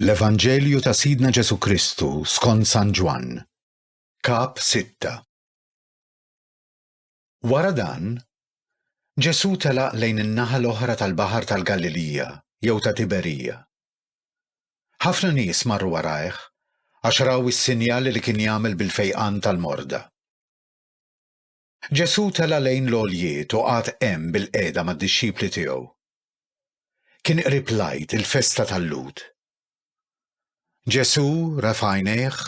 L-Evanġelju ta' Sidna Ġesù Kristu skont San Ġwann, Kap. 6. Wara dan, Ġesù telaq lejn in-naħa l-oħra tal-baħar tal-Galilija jew ta' Tiberija. Ħafna nies marru warajh għax raw is-sinjali li kien jagħmel bil-fejqan tal-morda. Ġesù tela' lejn l-għoljiet u qagħad hemm bilqiegħda mad-dixxipli tiegħu. Kien qrib l-Għid, il-festa tal-Lhud. Ġesù refa' għajnejh,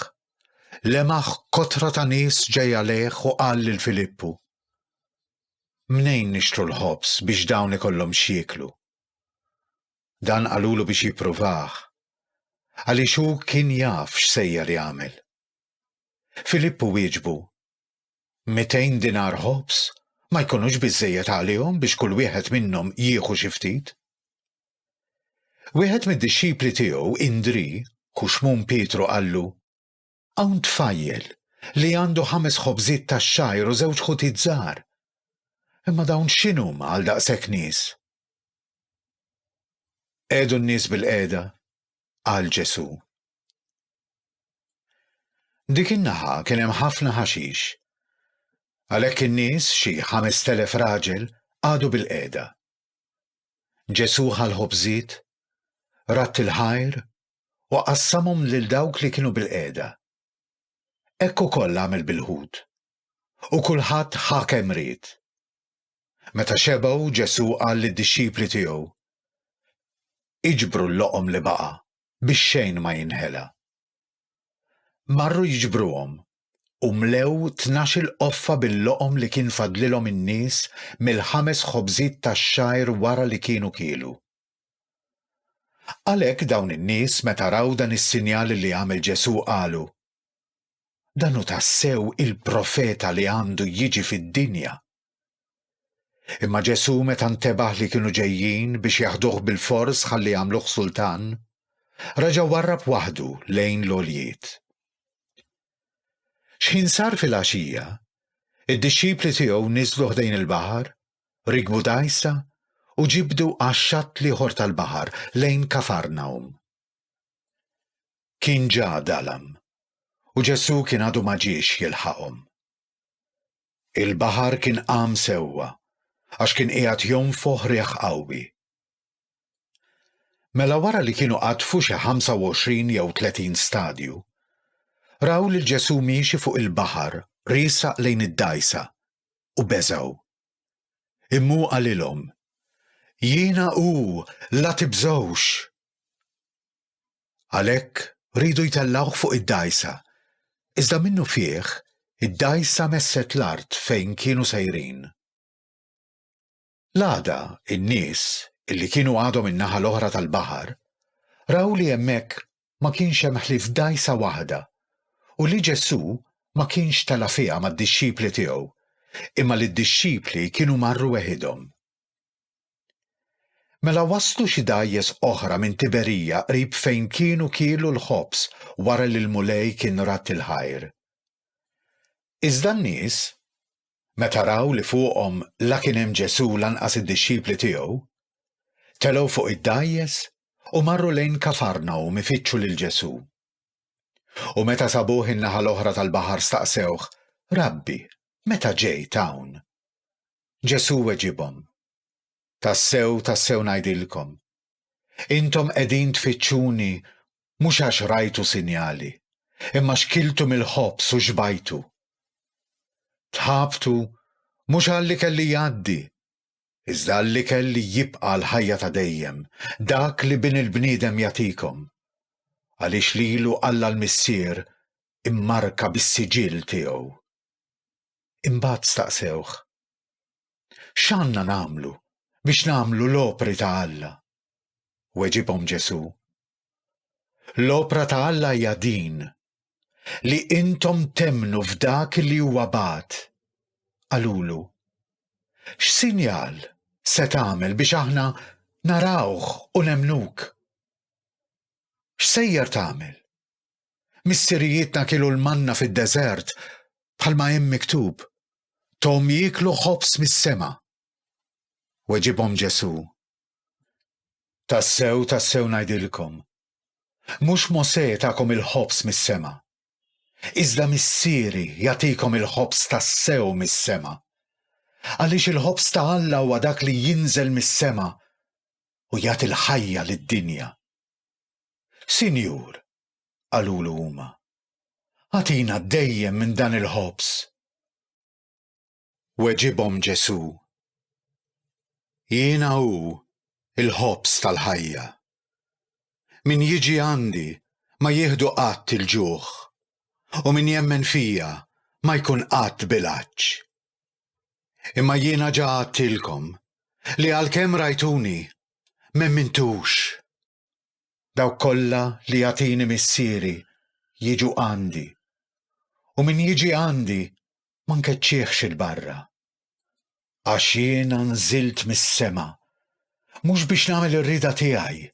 lemaħ kotra ta' nies ġej għalih u qal lil Filippu, Mnejn nixtru l-ħobż biex dawn ikollhom x'jieklu? Dan qalulu biex jippruvah, għaliex hu kien jaf x'sejjer jagħmel. Filippu wieġbu, 200 dinar ħobż ma jkunux biżżejjed għalihom biex kull wieħed minnhom jieħu xi ftit? Wieħed mid-dixxipli tiegħu, Indri, hu Xmun Pietru qallu, Hawn tfajjel li għandu ħames ħobżiet tax-xgħir u żewġ ħutiet żgħar. Imma dawn x'inhuma għal daqshekk nies? Qegħdu n-nies bil-qiegħda, qal Ġesù, Dik in-naħa kien hemm ħafna ħaxix. Għalhekk in-nies, xi ħames telef raġel, qagħdu bil-qiegħda. Ġesù ħa l-ħobżiet, ratt il-ħajr u qassamhom lil dawk li kienu bil-qiegħda. Hekk ukoll għamel bil-ħut. U kulħadd ħa kemm ried. Meta xebgħu Ġesù qal lid-dixxipli tiegħu, Iġbru l-loqom li baqa', biex xejn ma jinħela. Marru jiġbruhom u mlew tnax-il qoffa bil-loqom li kien fadlilhom in-nies mill-ħames ħobżiet tax-xgħir wara li kienu kielu. Għalhekk dawn in-nies meta raw dan is-sinjal li għamel Ġesù qalu, Dan hu tassew il-profeta li għandu jiġi fid-dinja. Imma Ġesù meta ntebaħ li kienu ġejjin biex jaħduh bil-fors ħalli jagħmluh sultan, raġa' warrab waħdu lejn l-għoljiet. X'ħin sar fil-għaxija, id-dixxipli tiegħu niżlu ħdejn il-baħar, rikbu dgħajsa u ġibdu għax-xatt l-ieħor tal-baħar lejn Kafarnawm. Kien ġa dalam u Ġesù kien għadu ma ġiex jilħaqhom. Il-baħar kien qam sewwa għax kien qiegħed jonfoħ riħ qawwi. Mela wara li kienu qatfu xi 25 jew 30 stadju, raw lil Ġesù miexi fuq il-baħar riesaq lejn id-dgħajsa u beżgħu. Immu qalilhom, Jiena hu, la tibżgħux! Għalhekk riedu jtellgħuh fuq id-dgħajsa. Iżda minnu fih, id-dgħajsa messet l-art fejn kienu sejrin. L-għada, in-nies, illi kienu għadhom in-naħa l-oħra tal-baħar, raw li hemmhekk ma kienx hemm ħlief dgħajsa waħda u li Ġesù ma kienx tela' fiha mad-dixxipli tiegħu, imma li d-dixxipli kienu marru weħidhom. Mela waslu xi dgħajjes oħra minn Tiberija qrib fejn kienu kielu l-ħobż wara li l-Mulej kien radd il-ħajr. Iżda n-nies, meta raw li fuqhom la kien hemm Ġesù lanqas id-dixxipli tiegħu, telgħu fuq id-dgħajjes u marru lejn Kafarnawm ifittxu lil Ġesù. U meta sabuh in-naħa l-oħra tal-baħar staqsewh, Rabbi, meta ġejt hawn? Ġesù weġibhom, Tassew, tassew ngħidilkom, intom qegħdin tfittxuni mhux għax rajtu sinjali, imma x'kiltu mill-ħobż u xbajtu. Tħabtu mhux għall-ikel li jgħaddi, iżda għall-ikel li jibqa' l-ħajja ta' dejjem, dak li Bin il-bniedem jagħtikom, għaliex lilu Alla l-Missier immarka bis-siġill tiegħu. Imbagħad staqsewh, X'għandna nagħmlu biex nagħmlu l-opri ta' Alla? Weġibhom Ġesù, L-opra ta' Alla hija din, li intom temmnu f'dak li huwa bagħat. Qalulu, X'sinjal se tagħmel biex aħna narawh u nemmnuk? X'sejjer tagħmel? Missirijietna kielu l-manna fid-deżert bħalma hemm miktub, Thom jieklu ħobż mis-sema. Weġibhom Ġesù, Tassew, tassew ngħidilkom, mhux Mosè takom il-ħobż mis-sema, iżda Missieri jagħtikom il-ħobż tassew mis-sema. Għaliex il-ħobż ta' Alla huwa dak li jinżel mis-sema u jagħti l-ħajja lid-dinja. Sinjur, qalulu huma, agħtina dejjem minn dan il-ħobż. Weġibhom Ġesù, Jiena hu l-ħobż tal-ħajja. Min jiġi għandi ma jieħdu qatt il-ġuħ, u min jemmen fija ma jkun qatt bil-għatx. Imma jiena ġa għadtilkom li għalkemm rajtuni, m'emmintux. Dawk kollha li jagħtini Missieri jiġu għandi, u min jiġi għandi ma nkeċċihx 'il barra. Għax jiena nżilt mis-sema, mhux biex nagħmel ir-rieda tiegħi,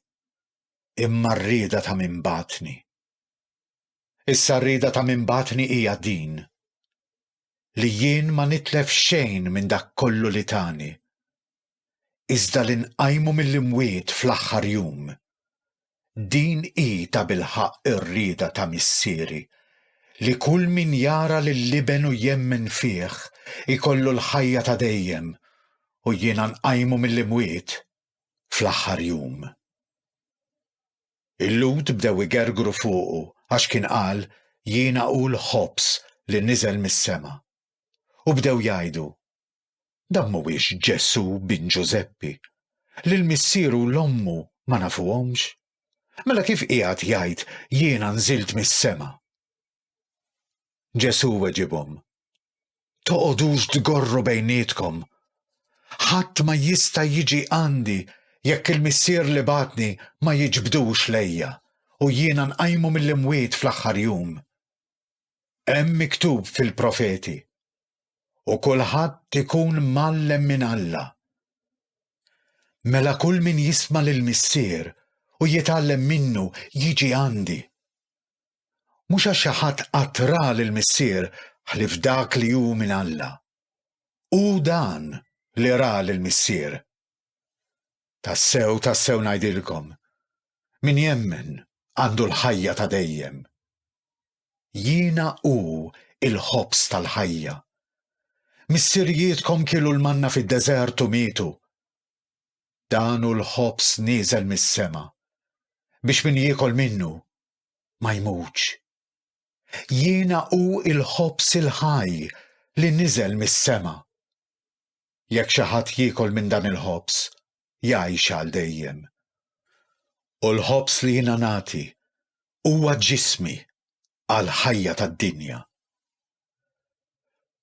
imma r-rieda ta' min bagħatni. Issa r-rieda ta' min bagħatni hija din, li jien ma nitlef xejn minn dak kollu li tani, iżda li nqajmu mill-imwiet fl-aħħar jum. Din hi ta' bilħaqq ir-rieda ta' Missieri, li kull min jara lill-Iben u jemmen fih ikollu l-ħajja ta' dejjem u jiena nqajmu mill-imwiet fl-aħħar jum. Il-Lhud bdew igergru fuqu għax kien qal jiena hu l-ħobż li niżel mis-sema. U bdew jgħidu, Dan mhuwiex Ġesù bin Ġużeppi, li l-missieru u l-ommu ma nafuhomx? Mela kif qiegħed jgħid jiena nżilt mis-sema? Ġesù weġibhom, Toqgħodux tgorru bejnietkom. Ħadd ma jista' jiġi għandi jekk il-Missier li bagħatni ma jiġbdux lejja u jiena nqajmu mill-imwiet fl-aħħar jum. Hemm miktub fil-profeti, u kulħadd ikun mgħallem minn Alla. Mela kull min jisma' lill-Missier u jitgħallem minnu jiġi għandi. Mhux għax xi ħadd qatt ra lill-Missier ħlief dak li hu minn Alla. Hu dan li ra lill-Missier. Tassew, tassew ngħidilkom, min jemmen għandu l-ħajja ta' dejjem. Jiena hu l-ħobż tal-ħajja. Missirijietkom kielu l-manna fid-deżert u mietu. Dan hu l-ħobż nieżel mis-sema, biex min jiekol minnu ma jmutx. Jiena hu l-ħobż il-ħaj li niżel mis-sema. Jekk xi ħadd jiekol minn dan il-ħobż, jgħix għal dejjem. U l-ħobż li jiena nagħti huwa ġismi għal ħajja tad-dinja.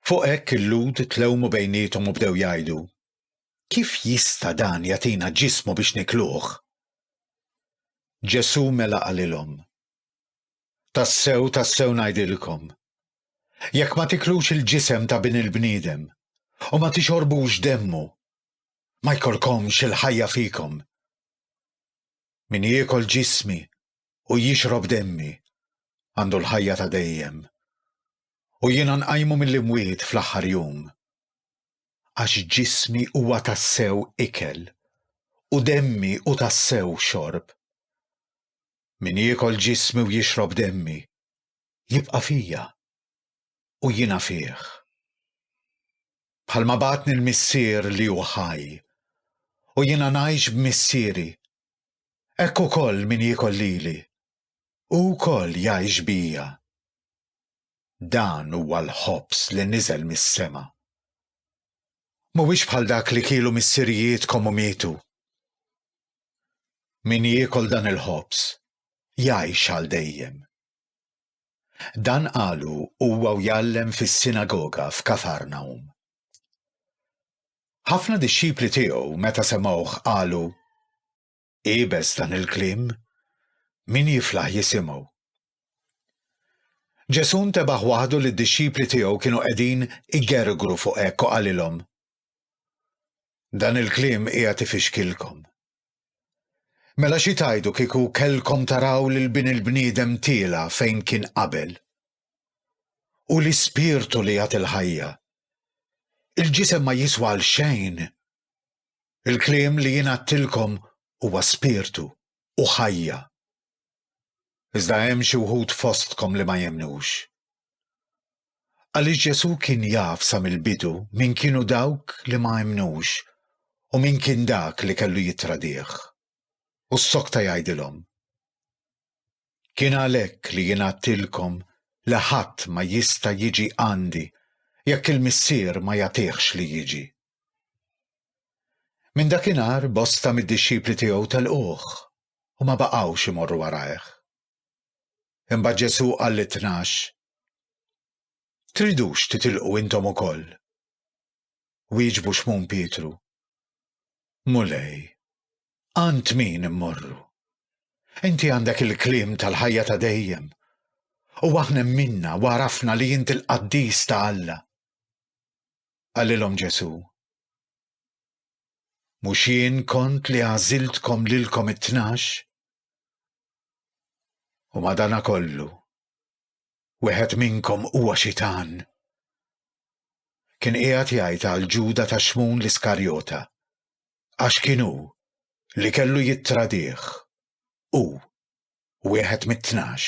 Fuq hekk il-Lhud tlewmu bejniethom u bdew jgħidu, Kif jista' dan jagħtina ġismu biex nikluh? Ġesù mela qalilhom, Tassew, tassew ngħidilkom, jekk ma tiklux il-ġisem ta' Bin il-bniedem u ma tixorbux demmu, ma jkollkomx il-ħajja fikom. Min jiekol ġismi u jixrob demmi għandu l-ħajja ta' dejjem. U jiena nqajmu mill-imwiet fl-aħħar jum. Għax ġismi huwa tassew ikel u demmi u tassew xorb. Min jiekol ġismi u jixrob demmi jibqa' fija u jiena fih. bħalma bagħatni l-Missier li hu ħaj, u jiena ngħix b'Missieri, hekk ukoll min jiekol lili, hu wkoll jgħix bija. Dan huwa l-ħobż li niżel mis-sema. Mhuwiex bħal dak li kielu missirijietkom u mietu. Min jiekol dan il-ħobż jgħix għal dejjem. Dan qalu huwa u jgħallem fis-sinagoga f'Kafarnawm. Ħafna dixxipli tiegħu meta semgħuh qalu, Iebes dan il-kliem, min jiflaħ jisimgħu. Ġesù ntebaħ waħdu li d-dixxipli tiegħu kienu qegħdin igergru fuq hekk u qalilhom, Dan il-kliem qiegħed ifixkilkom. Mela xi tajdu kieku kellkom taraw lil bin il-bniedem tiela' fejn kien qabel? Hu l-Ispirtu li jagħti l-ħajja. Il-ġisem ma jiswa għal xejn. Il-kliem li jien għadtilkom huwa spirtu u ħajja. Iżda hemm xi wħud fostkom li ma jemmnux. għaliex Ġesù kien jaf sa mill-bidu min kienu dawk li ma emmnux u min kien dak li kellu jittradih, u ssokta jgħidilhom, Kien għalhekk li jien għadtilkom li ħadd ma jista' jiġi għandi jekk il-Missier ma jagħtihx li jiġi. Minn dakinhar bosta mid-dixxipli tiegħu telquh u ma baqgħux imorru warajh. Imbagħad Ġesù qal lit-tnax, Tridux titilqu intom ukoll? Wieġbu Xmun Pietru, Mulej, għand min immorru? Inti għandek il-kliem tal-ħajja ta' dejjem u aħna minna u għarafna li jint il-qaddis ta' Alla. Għallilom Ġesu. Mux jien kont li għaziltkom lilkom it-tnax? U madana kollu, wieħed minnkom huwa xitan. Kien qiegħed jgħid għal Ġuda ta' Xmun l-Iskarjota, għax kien hu li kellu jittradih, u wieħed mit-tnax.